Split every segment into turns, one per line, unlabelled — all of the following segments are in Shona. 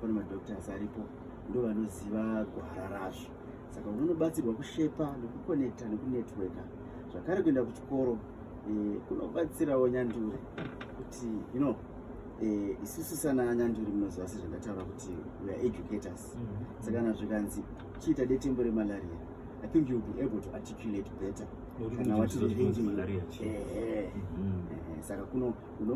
pane madoctors aripo ndo vanoziva gwara razvo saka unonobatsirwa kushepa nekukonekta nekunetworka zvakare kuenda kuchikoro eh, kunobatsirawo nyanduri kuti you know eh, isusu sana nyanduri munoziva sezvandataura kuti weare educators mhm. saka kana zvikanzi chiita detembo remalaria i think youll be able to articulate better kana watireengei saka kuno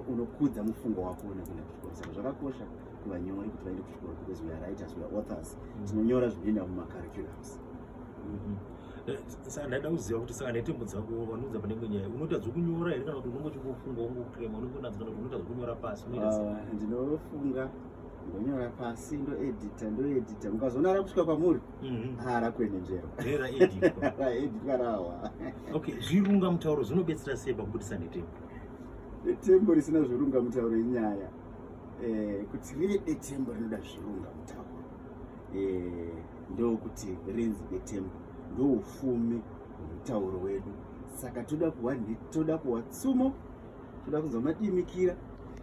unokudza mufungo wako nekuenda kuchikoro saka zvakakosha kuva nyori kuti vaende kuchikoro because we are writers we are authors mm. tinonyora zvinoenda mumacurriculums mm-hmm.
eh, saka ndaida kuziva kuti saka netembo dzako vanoudza panenge nyaya unoita dzekunyora here kana kuti unonge uchingofunga ungokrema unenge unadzo kana kuti unoita dzekunyora pasi ah, ndinofunga
ndonyora pasi ndoedita ndoedita mukazoona rakusvika kwamuri mm-hmm. haa ah, rakuenenjerwa raeditwa rawa okay zvirunga
mutauro zvinobetsera sei pakubudisa netembo netembo
risina zvirunga mutauro inyaya eh, kuti rive detembo rinoda zvirunga mutauro eh, ndokuti rinzi detembo ndoufumi hwemutauro wedu saka toda kuwa toda kuwa tsumo toda kunzwa madimikira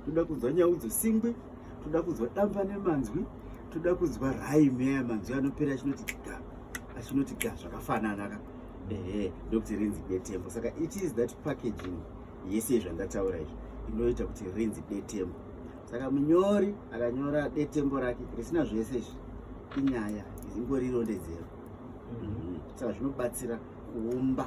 toda kunzwa nyau dzosingwi toda kunzwa damba nemanzwi toda kunzwa raime aya manzwi anopera achinoti ga achinoti ga zvakafanana ka ehe ndokuti rinzi detembo saka it is that packaging yese yezvandataura izvi inoita kuti rinzi detembo saka munyori akanyora detembo rake risina zvese izvi inyaya ingori irondedzero mhm. mhm. saka zvinobatsira kuumba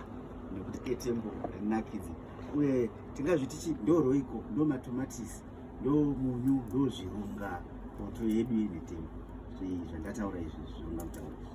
nekuti detembo rinakidze uye tingazviti chi ndo roiko ndo matomatisi ndo munyu ndo zvirunga poto yedu yedetembo zvandataura izvi zvirunga mutaura izvi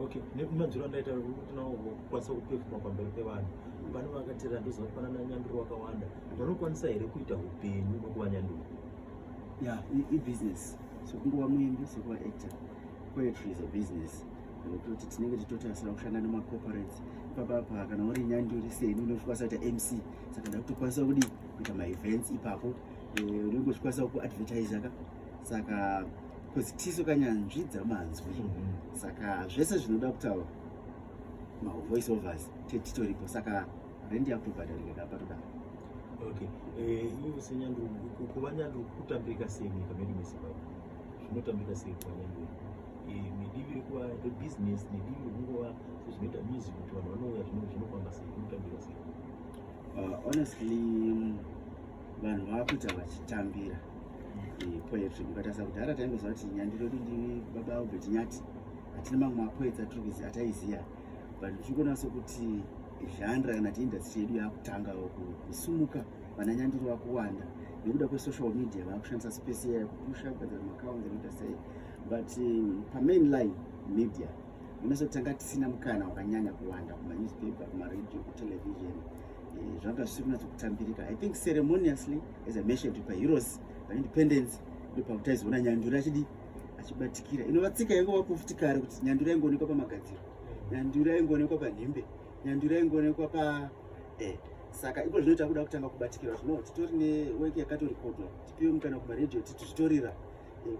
okay nemadziro andaita kuti nawo kwanisa kupefuma pamberi pevanhu vano vakateerera ndoziva kuti panana nyanduro wakawanda vanokwanisa here kuita upenyu nokuva nyanduro ya ibusiness
sokunguva muimbi sokuva actor poetry is a business toti tinenge titotasira kushanda nemacorporates ipapapa kana uri nyanduri seni unokwanisa kuita mc saka ndakutokwanisa kudi kuita maevents ipapo eh, unenge uchikwanisa kuadvertisa ka saka because tisu kanyanzvi dzamanzwi mm-hmm. saka zvese zvinoda kutaura mavoice overs tetitoripo saka rendi yakutobhadharika kapatoda okay
eh, ivo senyandu kuva nyandu kutambirika sei munyika medu mezimbabwe zvinotambirika sei kuva nyandu eh, nedivi rekuva rebusiness nedivi rekungova sezvinoita music kuti vanhu vanouya zvinofamba sei zvinotambirika sei uh, honestly
vanhu vakuita vachitambira eh, poetry mukatarisa kudhara taingoziva kuti nyandi redu ndi baba albert nyati hatina mamwe mapoetsa tiri kuziva ataiziva but tiri kuona sokuti zhandra kana ti industry yedu yakutanga kusumuka vana nyandiri vakuwanda nekuda kwesocial media vakushandisa space iya kupusha kugadzira macounts anoita sei but um, pamain line media unosotanga tisina mukana wakanyanya kuwanda kumanewspaper kumaradio kutelevision eh, zvanga zvisiri kunatsa kutambirika i think ceremoniously as i mentioned paheroes paindependence ndopakutaizoona nyanduri achidi achibatikira inovatsika yange wakufuti kare kuti nyanduri yaingoonekwa pamagadziro nyanduri yaingoonekwa panhembe nyanduri yaingoonekwa pa eh, saka ipo zvino takuda kutanga kubatikira zvino titori neweki yakatorikodwa tipiwe mukana kumaradio titi zvitorira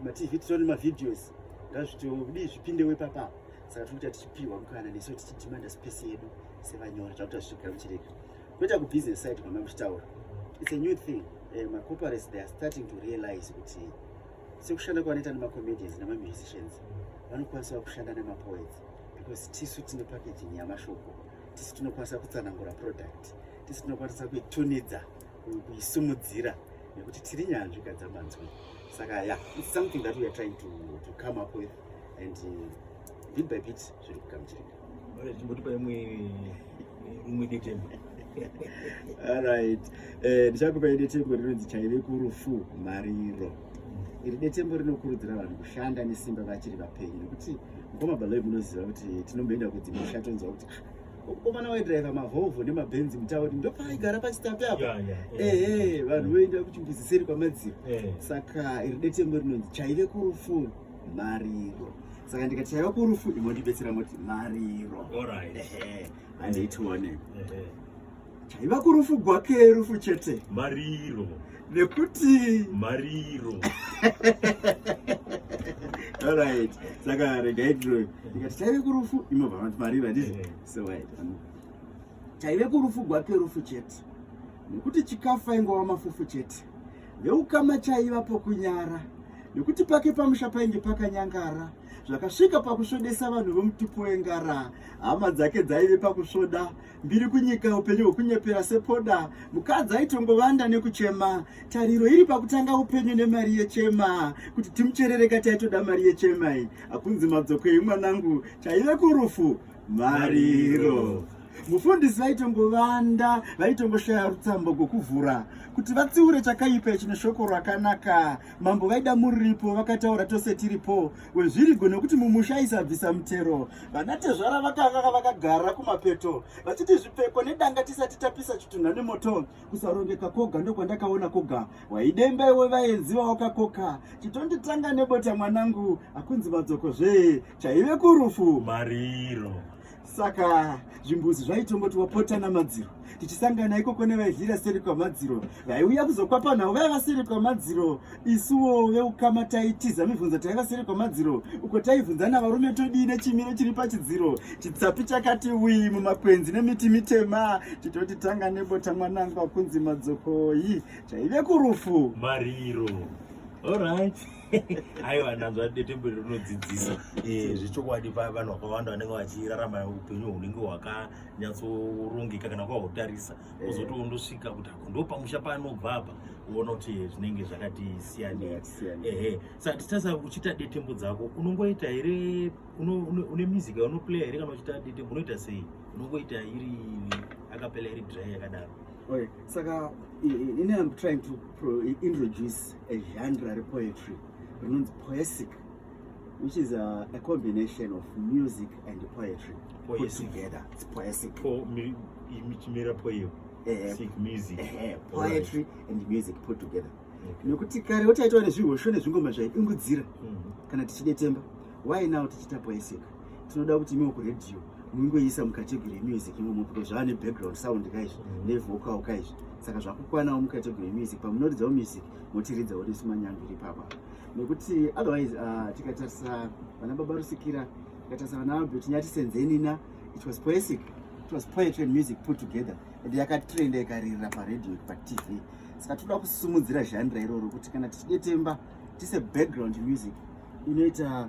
matv titori nemavideos ngazvitodi zvipindewo ipapa saka tiri kuita tichipihwa mukana nesu tichidimanda space yedu sevanyori takuta zvichigara muchirega kwoita kubusiness side kwamai muchitaura its a new thing eh, macorporates they are starting to realize kuti sekushanda kwavanoita nemacomedians nemamusicians vanokwanisawo kushanda nemapoets because tisu tine packaging yamashoko tisu tinokwanisa kutsanangura product tisu tinokwanisa kuitunidza kuisimudzira nekuti tiri nyanzvi kadzamanzwi saka ya yeah, it's something that we are trying to, to come up with and uh, bit by bit zviri kugamuchirika chimbotipa imwe
imwe detemo
alright eh, ndichakupa uh, detembo rinonzi chaive kurufu mariro iri detembo rinokurudzira vanhu kushanda nesimba vachiri vapenyu nekuti mukoma baloi munoziva kuti tinomboenda kudzimusha tonzwa kuti ah, komana waidriver mavolvo nemabenzi mutauri ndopaigara pachitapi apa ehe vanhu voenda kuchimbuzi seri kwamadziro eh. saka iri detembo rinonzi chaive kurufu mariro saka ndikati chaiva kurufu imondibetsera moti mariro andiitione chaiva kurufu gwake rufu chete mariro
nekuti
mariro alright saka regai tiroe ndikati chaive kurufu imobva vanoti mariro handizi eh. so wait chaive kurufu gwake rufu chete nekuti chikafu ainge wamafufu chete veukama chaiva pokunyara nekuti pake pamusha painge pakanyangara zvakasvika pakusvodesa vanhu vemutupo wengara hama dzake dzaive pakusvoda mbiri kunyika upenyu hwekunyepera sepoda mukadzi aitongovanda nekuchema tariro iri pakutanga upenyu nemari yechema kuti timucherereka taitoda mari yechema iyi hakunzi madzokei mwanangu chaive kurufu mariro mufundisi vaitongovanda vaitongoshaya rutsambo gwokuvhura kuti vatsiure chakaipa chine shoko rakanaka mambo vaida muripo vakataura tose tiripo wezvirigo nekuti mumusha aisabvisa mutero vanatezvara vakanga vakagara kumapeto vachiti zvipfeko nedanga tisati tapisa chitunha nemoto kusarongeka koga ndokwandakaona koga waidemba iwe vaenzi vawakakoka chitonditanga nebota mwanangu akunzi madzoko zvee chaive kurufu mariro
saka
zvimbuzi zvaitongoti wapotana madziro tichisangana ikoko nevaidlira seri kwamadziro vaiuya kuzokwapa nhau vaiva seri kwamadziro isuwo veukama taitiza mibvunzo taiva seri kwamadziro uko taivhunzana varume todii nechimiro chiri pachidziro chitsapi chakati wii mumakwenzi nemiti mitema titoti tanga nebota mwanangu akunzi madzokoyi chaive kurufu mariro
orit aiwa ndanzwa detembo iri rinodzidzisa eh, zvechokwadi vanhu vakawanda vanenge vachirarama upenyu hunenge hwakanyatsorongeka kana kwahutarisa eh. kozoti wondosvika kuti ako ndo pamusha paanobva apa uona kuti zvinenge zvakati siyanei ehe sa titasa uchita detembo dzako unongoita here une music unoplaya here kana uchita detembo unoita sei unongoita iri akapela iri dry yakadaro okay saka
ini am trying to introduce a genre repoetry rinonzi poesic which is a, a combination of music and poetry put together it's poesic po, mi, michimera poem
eh, eh. music eh, poetry
right. and music put together nekuti kare wotaitwa nezvihosho nezvingoma zvaidungudzira mm-hmm. kana tichidetemba why now tichiita poesic tinoda kuti imiwo kuredhiyo mungoisa mucategory yemusic imomo because zvava nebackground sound kaizvi mm. nevocal kaizvi saka zvakukwanawo mucategory yemusic pamunoridzawo music motiridzawo nesu manyandu iri papa nekuti otherwise uh, tikatarisa vana baba rusikira tikatarisa vana albert nyati senzenina it was poesic it was poetry and music put together and yakatrenda ikaririra paradio patv saka tinoda kusumudzira zhandira iroro kuti kana tichidetemba tise background music inoita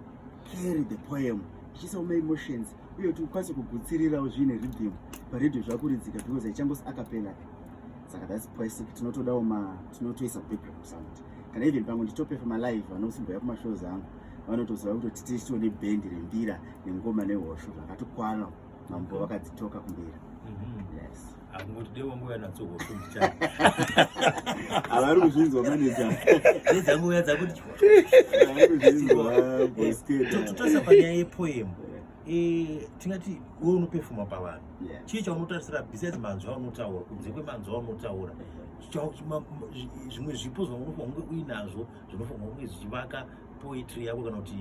carry the poem tichiisa uma emotions uye kuti ukwanise kugutsirirawo zviine rhythm paredio zvakuridzika because haichangosi akapela saka thats basic tinotodawo ma tinotoisa background sound kana even pamwe nditopefa malive vanosimboya kumashows angu vanotoziva kuti tititio nebhendi rembira nengoma nehosho zvakatokwana mambo vakadzitoka kumberi mhm. yes angoti devo
nguva nadzo hofumicha
avari kuzvinzwa maneja nedzanguva
dzakuti
tototarisa panyaya
yepoemu eh, tingati we unopefuma pavanhu chii chaunotarisira besides manzwi aunotaura kunze kwemanzwi aunotaura zvimwe zvipo zvaunofanira kunge uinazvo zvinofanira kunge zvichivaka poetry yako kana kuti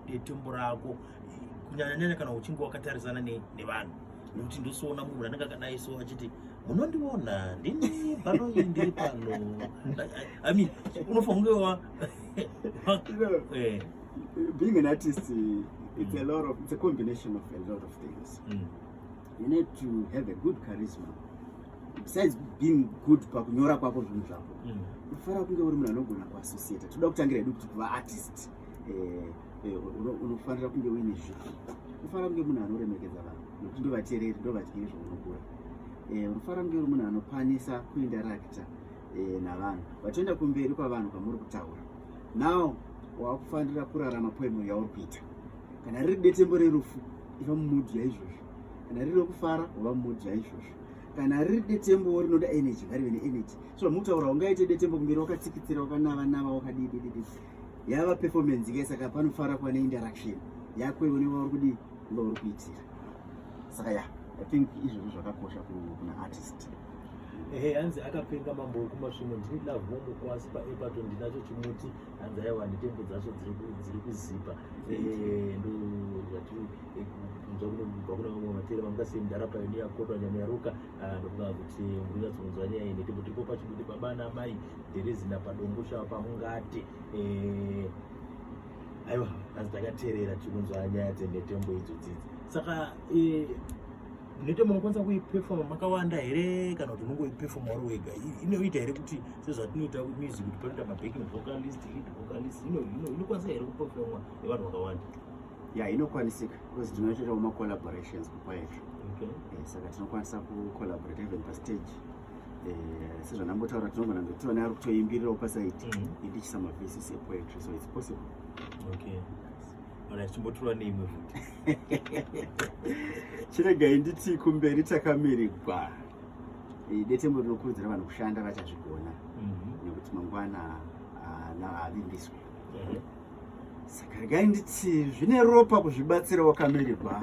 detembo rako kunyanya nyanya kana uchinge wakatarisana nevanhu nekuti ndosoona munhu anenge akadai so achiti munondiona ndini panoyi ndiri pano i mean unofange wa eh.
being an artist it's a lot of it's a combination of a lot of things mm. you need to have a good charisma besides being good pakunyora kwako zvinhu zvako mm. unofanira kunge uri munhu anogona kuassociata toda kutangira edu kuti kuva artist eh, Eh, unofanira kunge uine zvivi unofanira kunge munhu anoremekedza vanhu nokuti ndovateereri ndovadyiri zvaunogura eh, unofanira kunge uri munhu anokwanisa kuindarakita eh, navanhu vatoenda kumberi kwavanhu kwamuri kutaura now wakufanira kurarama poemo yauri kuita kana riri detembo rerufu iva mumudhi yaizvozvo kana riri rekufara wava mumudhi yaizvozvo kana riri detembo rinoda energy ngarive neenergy so mutaura ungaite detembo kumberi wakatsikitsira wakanavanava wakadidididi yava performance ke saka panofara kuva neinteraction yako iwe nevauri kudii vauri kuitira saka ya i think izvozvo zvakakosha kuna artist ehe
hanzi akapenga mambo wekumasvimo ndini love homo kwasi paepato ndinacho chimuti hanzi aiwa netembo dzacho dziri kuzipa ndozvatikunzwa kunobva kune vamwe vatera vanga semdara payoniya kotwa nyama yaruka Ah, ndokuda kuti ndinyatsonzwa nyaya iyi nekuti ndipo pachikuti baba namai dherezina padongo shava pamungati eh, aiwa asi takateerera tikunzwa nyaya dzenetembo idzo dzidzi saka eh, netembo unokwanisa kuipefoma makawanda here kana kuti unongoipefoma uri wega inoita here kuti sezvatinoita music kuti panoita mabacking vocalist lead vocalist inokwanisa here kupefomwa nevanhu vakawanda ya inokwanisika
because tinoitawo macollaborations kupoetry okay. eh, saka tinokwanisa kucollaborate even pastage eh, sezvandambotaura tinogona kunge tione ari kutoimbirirawo pasaiti mm -hmm. indichisa mavhesis epoetry so its possible okay achimbotura
neimwe futi
chiregai nditi kumberi takamirigwa eh, detembo rinokurudzira vanhu kushanda vachazvigona mhm. nekuti mangwana ah, havimbiswe saka regai nditi zvine ropa kuzvibatsira wakamirigwa